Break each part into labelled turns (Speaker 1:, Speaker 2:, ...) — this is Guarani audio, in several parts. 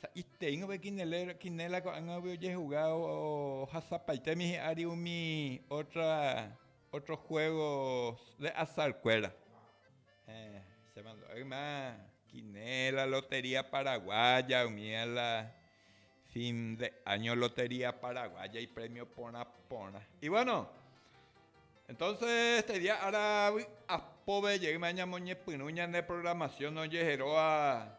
Speaker 1: Sa'iteíngo Kinela ko'ág̃agui ojehuga ohasapaitemi hi'ári umi ótro juégo de azarkuéra. Chéve ndo'ýima Kinela, lotería paraguaya, umíva la fin de áño lotería paraguaya iprémio porã porã. I vuéno, entónse este día ára vy'apove jeýma ñamoñepyrũ ñane programasión ojeheróva.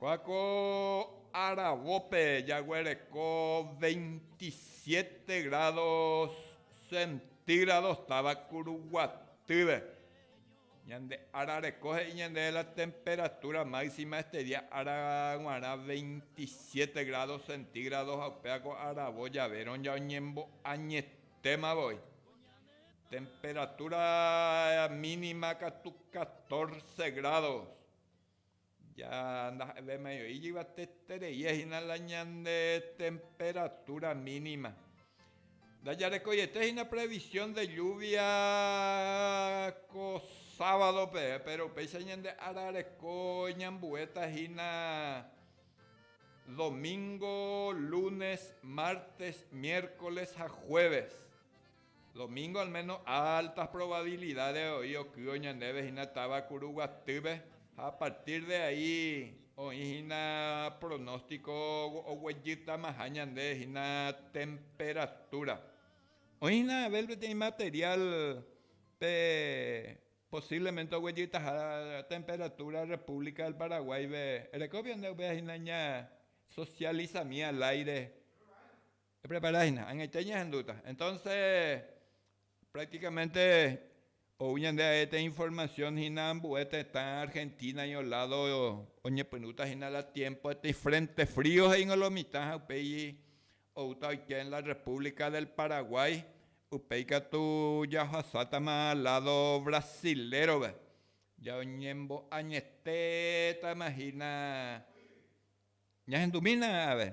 Speaker 1: Ha ko aravópe jaguereko veintisiete grádo centígrados táva kuruguatýre. Ñande ára reko he'i ñandéve la temperatura máxima este día ára g̃uarã veintisiete grádo centígrados ha upéva ko aravo javérõ oñembo'añetéma voi. Temperatura mínima katu catorce grádos. Ja ndaha'evémai oĩ yvatetereíha hína la ñande temperatúra mínima. Ndajarekoiete hína previsión de lluvia ko sávadope, péro upéicha ñande ára reko ñambuéta hína domingo, lunes, mártes, miércoles ha jueves. Domingo al méno altas provabilidad de oĩ okýo ñandéve hína táva Kuruguatýpe ha a partir de ahí oĩ hína pronóstico oguejytamaha ñande hína temperatura. Oĩ hína Abel peteĩ material pe posiblemente oguejytaha temperatura República del Paraguáipe, erekópio nde upéva hína ña socializami al aire. Eprepara hína, añaite ñahendúta. Entonce, prácticamente ou ñande aete información hína ambue tetã Argentina-ño lado oñepyrũta hína la tiempoete ifrente frío he'íngo la omitã ha upéi outa oike en la República del Paraguay, upéi katu jaohasátama lado brasilérove, jaoñembo'añetétama hína ñahendumína ave.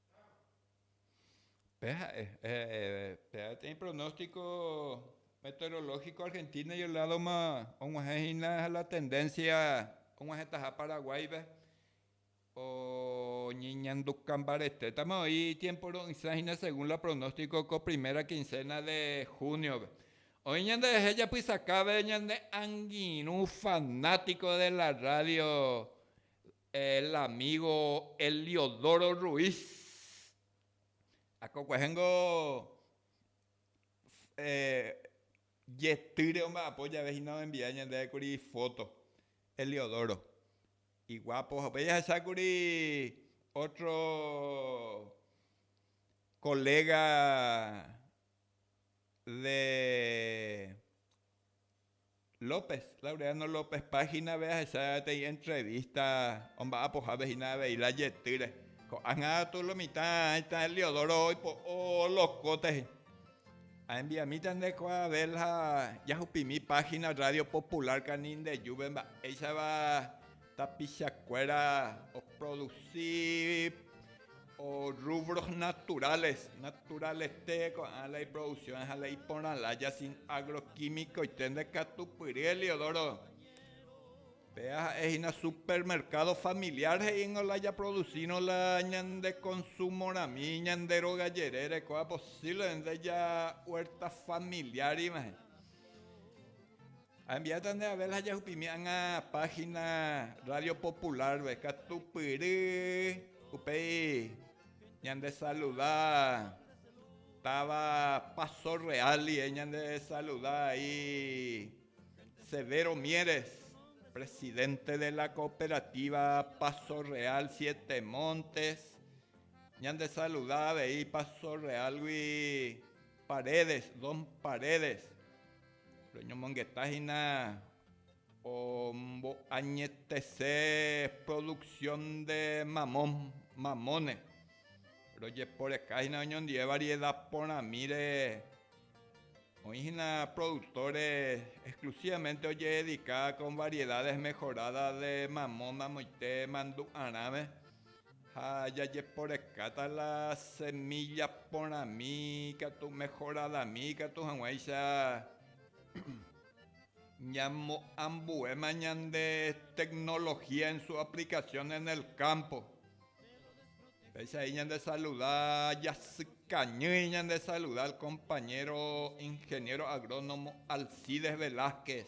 Speaker 1: Pe ha'e, pe peteĩ pronóstico meteorológico Argentina y el lado-ma og̃uahẽ hína la tendencia og̃uahẽtaha Paraguay-pe, oñeñanduka mbaretétama oĩ itiempo ro'ysã hína según la pronóstico ko primera quincena de junio-pe. Oĩ ñanderehe japysakápe ñane angirũ fanático de la radio El amigo Eliodoro Ruiz akokuahe niko yetýre omba'apo jave hína omembia ñandéve kuri ifoto Eliodoro iguapo ha upéi jahecha kuri otro colega de López, Laureano López Páginave ahecha peteĩ entrevista omba'apohápe hína avei la jetýre. Ko'ág̃a katu lo mitã aĩta Heliodoro oipo'o lokóte he'i. Añembiamíta nde ko Abel ha jahupimi página Radio Popular Kanindejúpe mba'éichapa Tapichakuéra oprodusi rúbros naturales, naturalete ko'ã la iproduksión ha la iporãlája sin agroquímicoite ndekatupyry Heliodoro. Péva ha'e hína supermercado familiar he'íngo la japroducírõ la ñande konsumorami ñande róga jerére ko'ã posívlemente ja huerta familiar ivãhe. Ambiéta nde Abel ha jahupimi ág̃a páhina Rádio Popular-pe, katupyry upéi ñandesaluda táva Paso Real ndive ñandesaluda ai Severo Mieres, presidente de la Cooperativa Paso Real Siete Montes, ñandesaluda avei Paso Real-gui Paredes, Don Paredes. Reñomongeta hína omboañetese producción de mamón, mamone. Rojeporeka hína oñondive variedad porãmíre. Oĩ hína productores exclusivamente ojehedika con variedades mejoradas de mamón amoite mandu'arãve. Ha jajeporekáta la semílla porãmi ikatu mehoradami ikatu hag̃uáicha ñamoambuéma ñande teknología en su aplicación en el campo. Péicha he'i ñande saluda, jasykañýi ñande saluda al compañero ingeniero agrónomo Alcides Velázquez,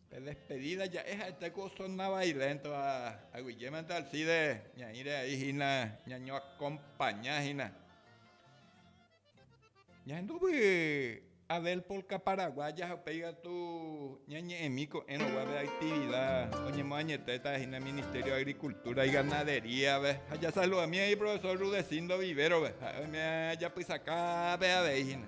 Speaker 1: Pe despedida ja'e ha'ete ku osona vailéntova, aguyjémante Alcide ñaĩre ai hína ñañoakompaña hína. Ñahendu vy'a Adel Polka Paraguaya ha upéi katu ñañe'ẽmi ko'ẽrõ guápe activida oñemoañetéta hína Ministerio de Agricultura y Ganadería-pe. Ha jasaludami ai Profesor Rudecindo Vivero-pe, ha'e oime ajapysaka ápe avei hína.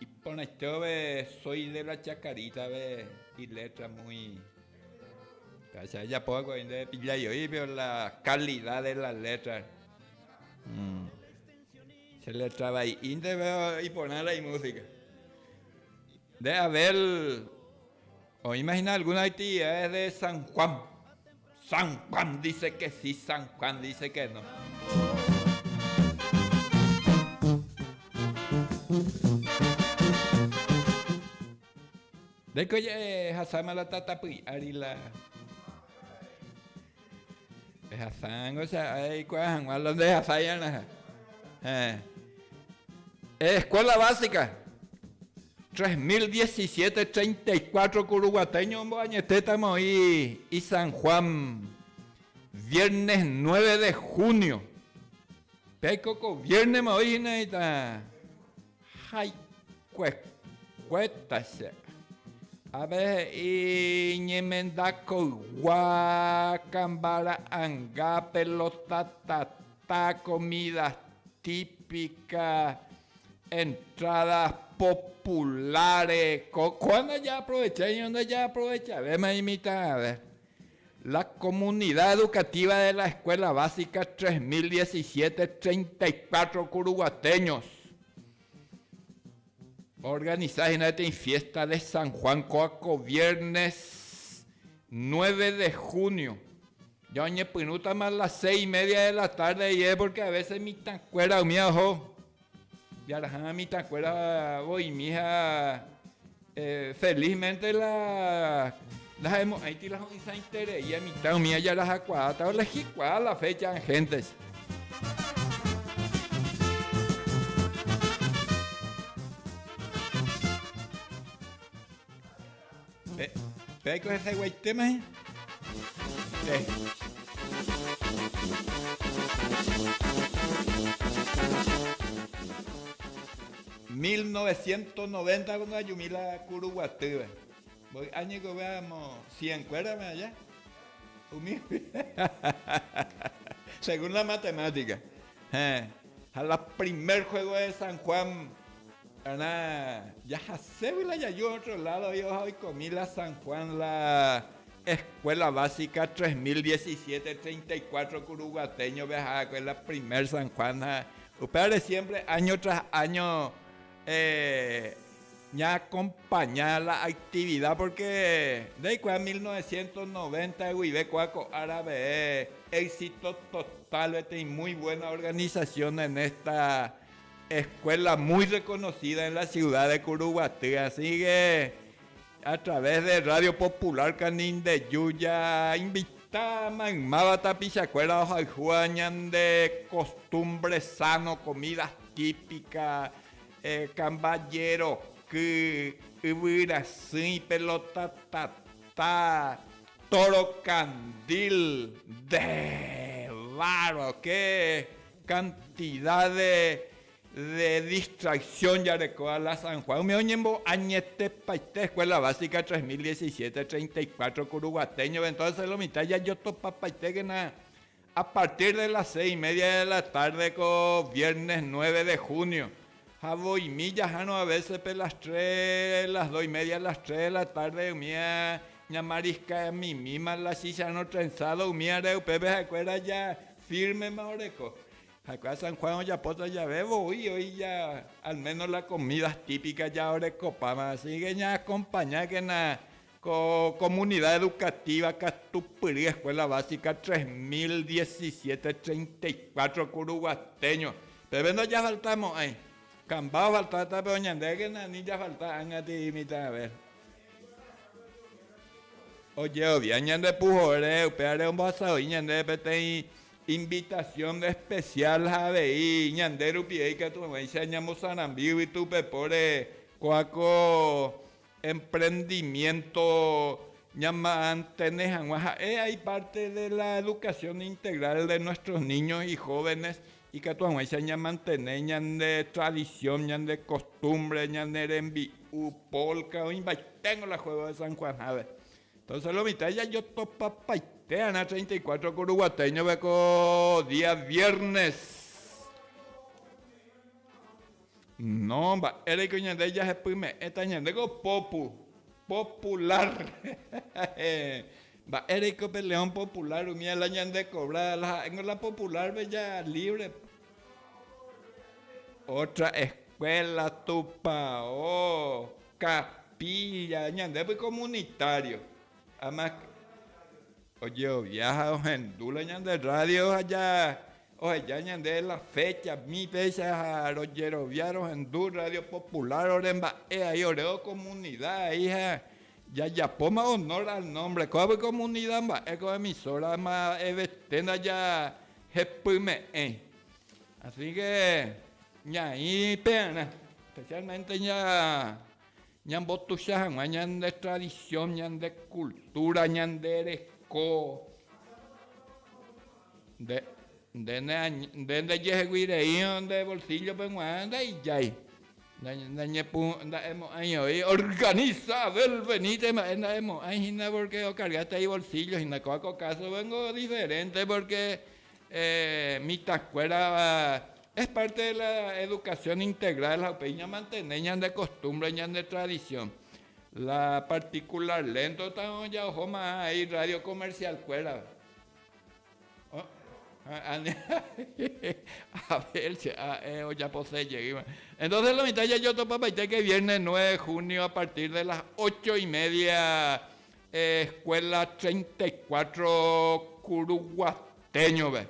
Speaker 1: Iporãitévave Soy de la Chacaritave iletra muy Gracias ajapo va'ekue oĩ ndéve pillái oĩ pero la calidad de la letra mm. che letra vai'i ndéve iporãra imúsica nde Abel Oĩma hína alguna actividades de San Juan. San Juan dice que sí, San Juan dice que no. Ndéiko jahechasáma la tatapy ári la Ehasa'ango che ae eikuaa hag̃ua la ndehasáiarãha. Heẽ. Escuela básica, 3017 34 ku Ruguateño omboañetétama oĩ i San Juan, viernes nueve de junio. Pe aiko ko viérnema oĩ hína heta. Jaikuekuéta che. Ave he'i ñemenda koygua, kamba ra'anga, pelota tata, comidas típicas, entradas populares. Ko kua ndaja aprovechaiño, ndaja aprovechavéma imitãve. La Comunidad Educativa de la Escuela Básica 3017, 34 curuguateños organiza hína peteĩ fiesta de San Juan kóva ko viernes 9 de junio. Ya oñepyrũtama a las seis y media de la tarde iye, porque a veces mitãkuéra umíva oho. Jaraha mitãkuéra voimi ha eh, felizmente la lahemo'ãiti la ho'ysãiterei mitã umi ajarahakuaáta olehikuaa la fecha angéntecha. Pe, pe aiko hesayguaitéma hẽ? Pe. ...1990 cuando ayumi la Curuguatýva. Mboy'a ñekove amo cien kuérame aja. Umi según la matemática. Hẽ. Ha la primer juego de San Juan Térã jahaségui la jaju ótro ládo voi oha oikomi la San Juan la Eskuéla Básica tres mil diecisiete treinta y cuatro kuruguatéñove aharakue la primer San Juan ha upévare siémpre áño tras áño ñaakompaña la aktivida pórke ndeikuaa mil novecientos noventa guive kóa ko árape éxito total peteĩ muy buena organización en esta Escuela muy reconocida en la ciudad de Curuguaty, así que a través de Radio Popular Canindeyu ja invita maymáva tapichakuéra ohayhúva ñande costumbre sano, comida típica, kambajeroky, yvyrasỹi, pelota tata, toro candil, nde bárbaro, qué Cantidad de de distracción jareko ala San Juan umi oñembo añetepaite escuela básica tres mil diecisiete treinta y cuatro kuru guateñove entonces lo mitad jajotopapaitékena a partir de las seis y media de la tarde ko viernes nueve de junio ha voimi jahárõ a veces pe las tres las dos y media las tres de la tarde umi a ñamariskamimíma la chícha rõ trenzado umíare upépe ha'ekuéra ja Fírmema oreko. Ha'ekuéra San Juan ojapóta jave voi oíja alméno la komída típika jaorekopáva. Asíke ñaakompañákena ko komunida edukatíva Katupyry Eskuéla Básika 3017 34 Kuruguatéño. Peve ndojafaltamo'ãi. Kamba ofaltáta, péro ñandékena ani jafalta ág̃ati imitãve. Ojerovia ñande puhoére, upévare ombohasa voi ñandéve peteĩ invitasión espesiál ha avei ñande rupive ikatu hag̃uáicha ñamosarambi yvytupepóre ko'ã ko emprendimiento ñamantene hag̃ua. Ha'e aipárte de la educación integral de nuestros niños y jóvenes Ikatu hag̃uáicha ñamantene ñande tradisión, ñande kostúmbre, ñane rembi'u, pólka, oĩmbaiténgo la juégo de San Juan hápe. Entónse lo mitã jajotopapaitéarã treinta y cuatro ko ruguatéñove ko día viérnes. No, mba'éreiko ñande jahepyme'ẽta ñandéko popu, popular. Mba'éreiko pe león popular umi ala ñandekobra, la ha'éngo la popularpe ja libre. Ótra eskuéla, tupao, kapílla, ñandépe komunitário. Además, ojerovia ha ohendu la ñande rrádio ha Oheja ñande la fécha, mi fécha ha rojerovia rohendu Rrádio Popular ore mba'e ai, ore okomunida ai ha jajapóma onór al nómbre. Kóva pe komunida mba'e ko emisóra mba'evete ndajahepyme'ẽi. Asíke ñaĩ pearã, espesiálmente ña. Ñambotuicha hag̃ua ñande tradición, ñande cultura, ñande reko. Nde, nde, nde ndejehegui rei nde bolsillo peg̃ua ndaijái. Ndañepu, nda'emo'ãi oĩ, organiza Abel venite mba'e nda'emo'ãi hína porque ocarga tei bolsillo hína. Kóa ko caso pe niko diferente porque Mitãkuéra es parte de la educación integral ha upéi ñamantene ñande costumbre, ñande tradición. La particular lento tavõ jaoho ma'ã ai radio comercialkuérape. Abel che a'e ojapose jeýva. Entonces lo mitã jajotopapaite ke viernes nueve de junio a partir de las ocho y media Escuela treinta y cuatro kuruguatéñove.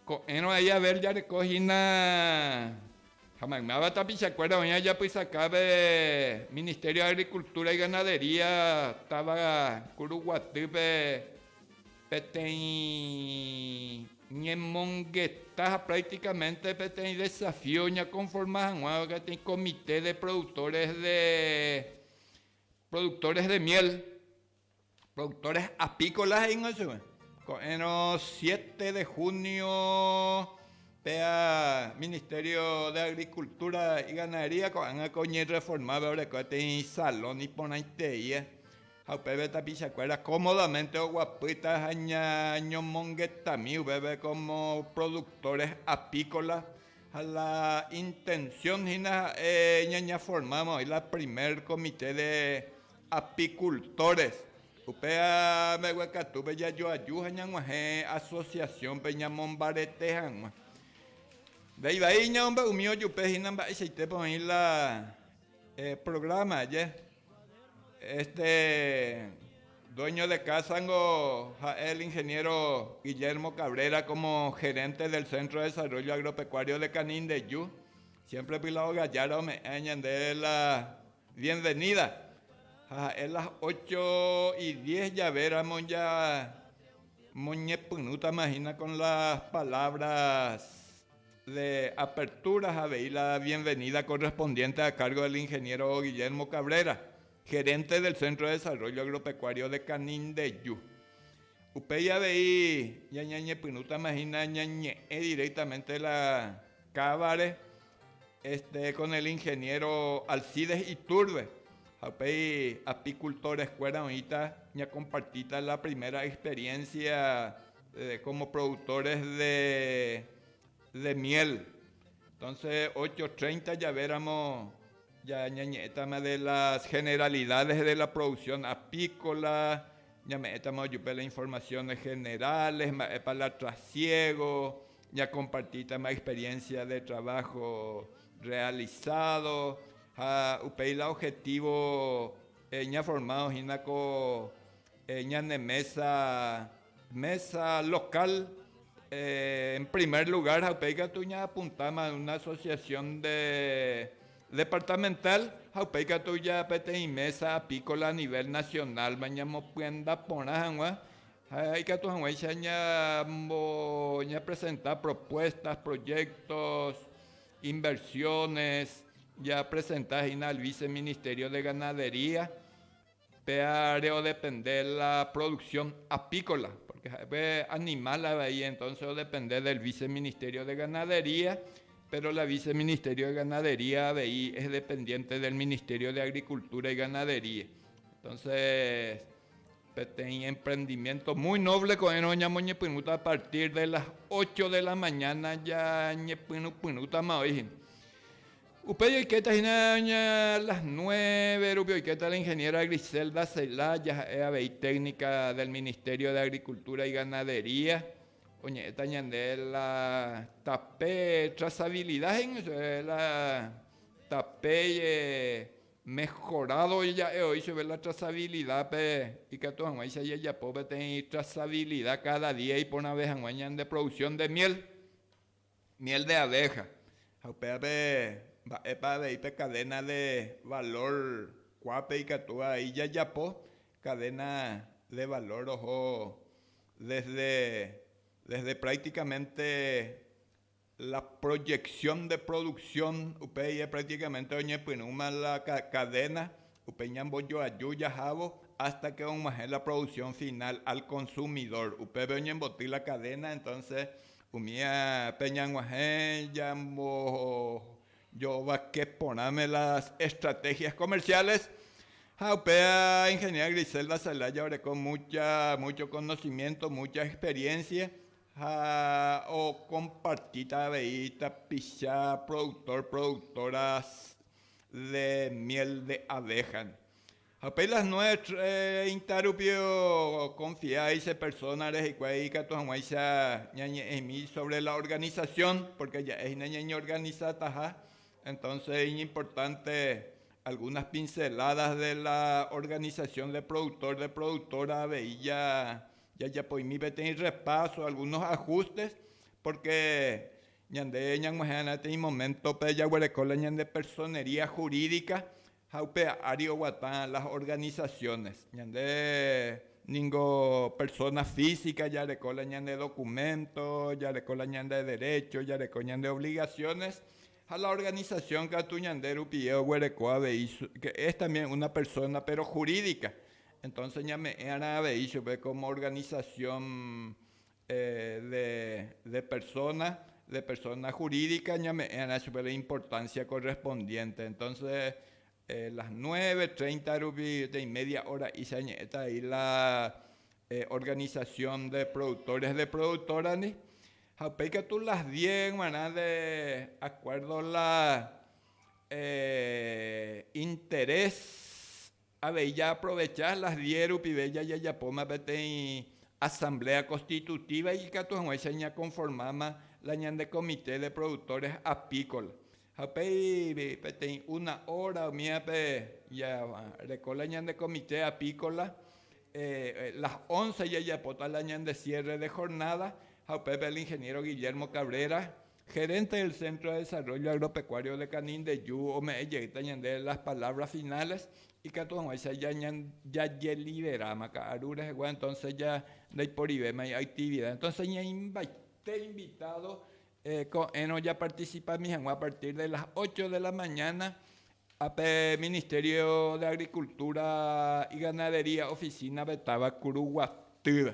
Speaker 1: Ko'ẽrõ ahí Abel jareko hína ha maymáva tapichakuéra oĩ ajapysakápe Ministerio de Agricultura y Ganadería táva Kuruguatýpe peteĩ ñemongeta ha prácticamente peteĩ desafío oñakonforma hag̃ua peteĩ comité de productores de Productores de miel, productores apícolas he'íngo chupe. Ko'ẽrõ siete de junio péva Ministerio de Agricultura y Ganadería ko'ág̃a ko oñerreformáva oreko peteĩ salón iporãiteie ha upépe tapichakuéra cómodamente oguapýta ha ña ñomongetami upépe como productores apícolas Ha la intensión hína ja'e ñañaformáma oĩ la primer comité de apicultores. Upéva mbegue katúpe jajoaju ha ñag̃uahẽ asociación-pe ñamombarete hag̃ua. Vai vai ñaombe'umi ojupe hína mba'eichaitépa oĩ la programa aje. Este dueño de casa niko ja'e el ingeniero Guillermo Cabrera como gerente del Centro de Desarrollo Agropecuario de Canindeyú, siempre py la Ogallara ome'ẽ ñande la bienvenida, ha ha'e las ocho y diez jave ramo ja moñepyrũtama hína con las palabras. Le aperturas avei la bienvenida correspondiente a cargo del ingeniero Guillermo Cabrera, gerente del Centro de Desarrollo Agropecuario de Canindeju. Upéi avei ñañañepyrũtama hína ñañe'ẽ directamente la Cáva-re este con el ingeniero Alcides Iturbe, ha upéi apicultores-kuéra oĩta ñakompartíta la primera experiencia. Como productores de miel, entonces ocho treinta jave ramo ñañe'ẽtama de las generalidades de la producción apícola, ñame'ẽtama ojupe las informaciones generales, mba'épa la trasiego, ñakompartítama experiencia de trabajo realizado, ha upéi la objetivo ñaformado hína ko Ñane mesa, mesa local en primer lugar ha upéi katu ñaapuntáma una asociación de departamental ha upéi katu ja peteĩ mesa apícola a nivel nacional-ma ñamopyenda porã hag̃ua ha ikatu hag̃uáicha ñambo ñapresenta propuestas, proyectos, inversiones japresenta hína al viceministerio de ganadería. Péa reodepende la producción apícola, porque ha'e animal avei, entonces odepende del Viceministerio de Ganadería, pero la Viceministerio de Ganadería avei es dependiente del Ministerio de Agricultura y Ganadería. Entonces, peteĩ emprendimiento muy noble ko'ẽrõ ñamoñepyrũta a partir de las ocho de la mañana ñañepyrũpyrũtama oĩ hína. Upéi oikéta hína ña las nueve rupi oikéta la ingeniera Griselda Celá jaha'e avei técnica del Ministerio de Agricultura y Ganadería oñe'ẽta ñande la tape trazabilidad he'ígui chupe la tape mejorado ja'e oĩ chupe la trazabilidad pe ikatu hag̃uáicha ijajapo peteĩ trazabilidad cada día iporãve hag̃ua ñande producción de miel. Miel de abeja. Ha upévape, mba'épa avei pe cadena de valor kuápe ikatu avei jajapo cadena de valor oho desde, desde prácticamente la proyección de producción, upéi practicamente oñepyrũma la cadena Upe ñambojoaju jahávo hasta que og̃uahẽ la producción final al consumidor, upépe oñemboty la cadena, entonces umi pe ñag̃uahẽ ñambojovake porãme las estrategias comerciales, ha upe Ingeniera Griselda Celaya oreko mucha, mucho conocimiento, mucha experiencia ha ocompartita avei tapicha productor, productoras de miel de abeja. Ha upéi las nuestra ita rupi oconfiái che persónare hikuái ikatu hag̃uáicha ñañe'ẽmi sóvre la organisación, pórke ja'e hína ñañeorganisataha, entónse iñimportánte algúnas pinceládas de la organisación de productor, de productora avei jajapoimi peteĩ repáso, algúnos ajustes, pórke Ñande ñag̃uahẽraite imoméntope jaguereko la ñande personería jurídica ha upe ári oguata las organizaciones. Ñande ningo persona física jareko la ñande documento, jareko la ñande derecho, jareko ñande obligaciones, ha la organización katu ñande rupie oguereko avei, que es también una persona pero jurídica. Entonces ñame'ẽrã avei chupe como organización de, de persona, de persona jurídica ñame'ẽrã chupe la importancia correspondiente. Entonces, a las nueve treinta rupi, peteĩ media hora'ícha ñe'ẽta vai la organización de productores de productora-ndi, ha upéi katu las diez g̃uarã de acuerdo la interés, Avei jaaprovecha las diez rupive jajajapóma peteĩ Asamblea Constitutiva ikatu hag̃uáicha ñakonformáma la ñande Comité de Productores Apícolas. Ha upéi peteĩ una hora umívape jareko la ñande Comité Apícola, las once jajapóta la ñande cierre de jornada ha upépe el Ingeniero Guillermo Cabrera, Gerente del Centro de Desarrollo Agropecuario de Canindeyu ome'ẽ jeýta ñandéve las palabras finales ikatu hag̃uáicha jajeliberáma ka'aru rehegua, entonces ja ndaiporivéma iactividad. Entonces ñaimbaite invitado ko'ẽrõ japarticipami hag̃ua a partir de las ocho de la mañana pe Ministerio de Agricultura y Ganadería oficina-pe táva Kuruguatýva.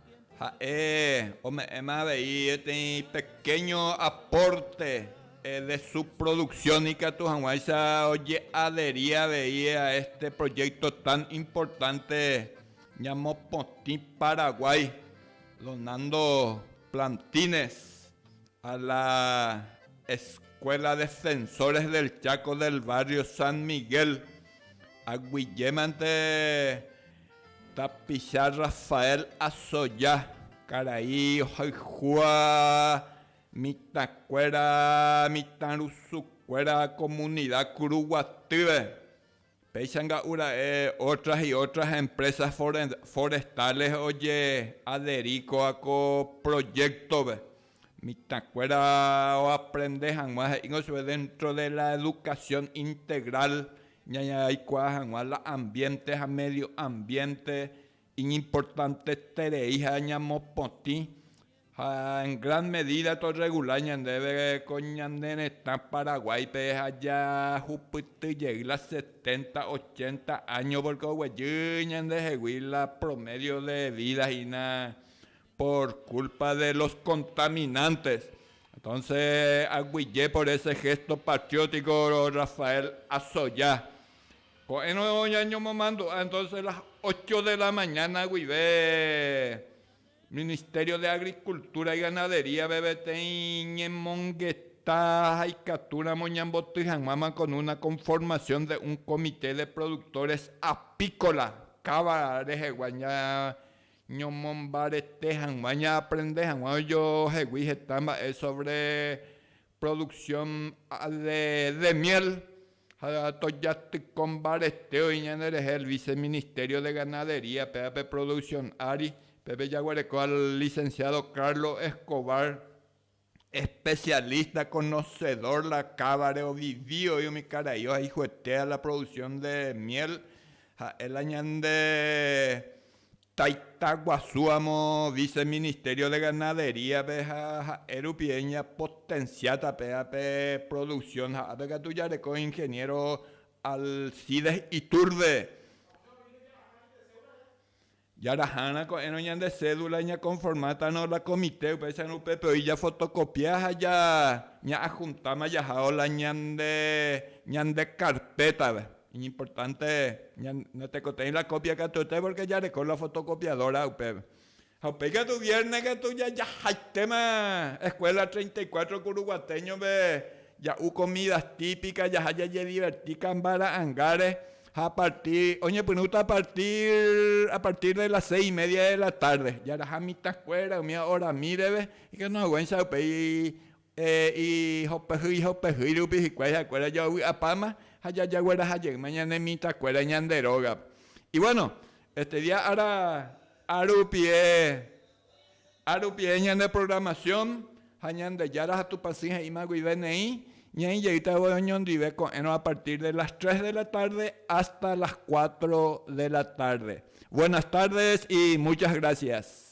Speaker 1: Ha'e ome'ẽma avei peteĩ pekéño apórte de su produksión ikatu hag̃uáicha oje'aderia avei a este proyecto tan importante ñamopotĩ Paraguái, donando plantines a la Escuela Defensores del Chaco del barrio San Miguel, aguyjémante. Tapicha Rafael Asoya, karai ohayhua mitãkuéra mitãrusukuéra komunida Kuruguatýpe, péicha nga'ura'e otras y otras empresas forestales ojeaderi kóva ko proyecto-pe. Mitãkuéra oaprende hag̃ua he'íngo chupe déntro de la edukasión integral ñañaraikuaa hag̃ua la ambiénte ha médio ambiénte iñimportantetereiha ñamopotĩ ha en gran medida torregula ñandéve ko ñane retã Paraguáipe ha jahupyty jey la setenta, ochenta áño, pórke oguejy ñandehegui la promédio de vida hína Por culpa de los contaminantes. Entonces aguyje por ese gesto patriótico Rafael Azoya. Ko'ẽrõ ñañomomandu'a entonces las ocho de la mañana guive Ministerio de Agricultura y Ganadería-pe peteĩ ñemongeta ha ikatúramo ñamboty hag̃uáma con una conformación de un comité de productores apícola káva rehegua Ñomombarete hag̃ua ñaaprende hag̃ua ojohegui heta mba'e sóvre produksión de miél, ha tojatyko mbarete oĩ ñanderehe el viceministerio de ganadería péva pe produksión ári, pépe jaguereko al licenciado Carlos Escobar. Especialista conocedor la cábare ovivi oĩ umi karaio ha ijuete a la producción de miel ha'e la ñande taita guasu amo vice ministerio de ganadería pe ha ha'e rupi eña potencia tape ape producción ha ape katu jareko ingeniero Alcides Iturbe Jaraha'arã ko'ẽrõ ñande cédula ñakonformátano la komite upéicharõ upépe oĩ jafotokopia ha ja ña'ajuntáma jahávo la ñande ñande karpétape. Iñimportánte natekotevẽi la kópia katuete pórke jareko la fotokopiadóra upépe. Ha upéi katu viérne katu jajahaitéma eskuéla treinta y cuatro kuruguatéñope ja'u komída típika, jaha jajediverti kambara'angáre Ha a partir, oñepyrũta a partir, a partir de las seis y media de la tarde, jaraha mitãkuéra umi oramí reve, ikatuhag̃uáicha upéi ihopehýi ihopehýi rupi hikuái ha'ekuéra joavy'apáma ha jajagueraha jeýma ñane mitãkuéra ñande rógape. Y bueno, este día ára, ára rupie Ha rupive ñande programación ha Ñandejára ha Tupãsy he'íma guive neĩ, ñaĩ jeýta voi oñondive ko'ẽrõ a partir de las tres de la tarde hasta las cuatro de la tarde. Buenas tardes y muchas gracias.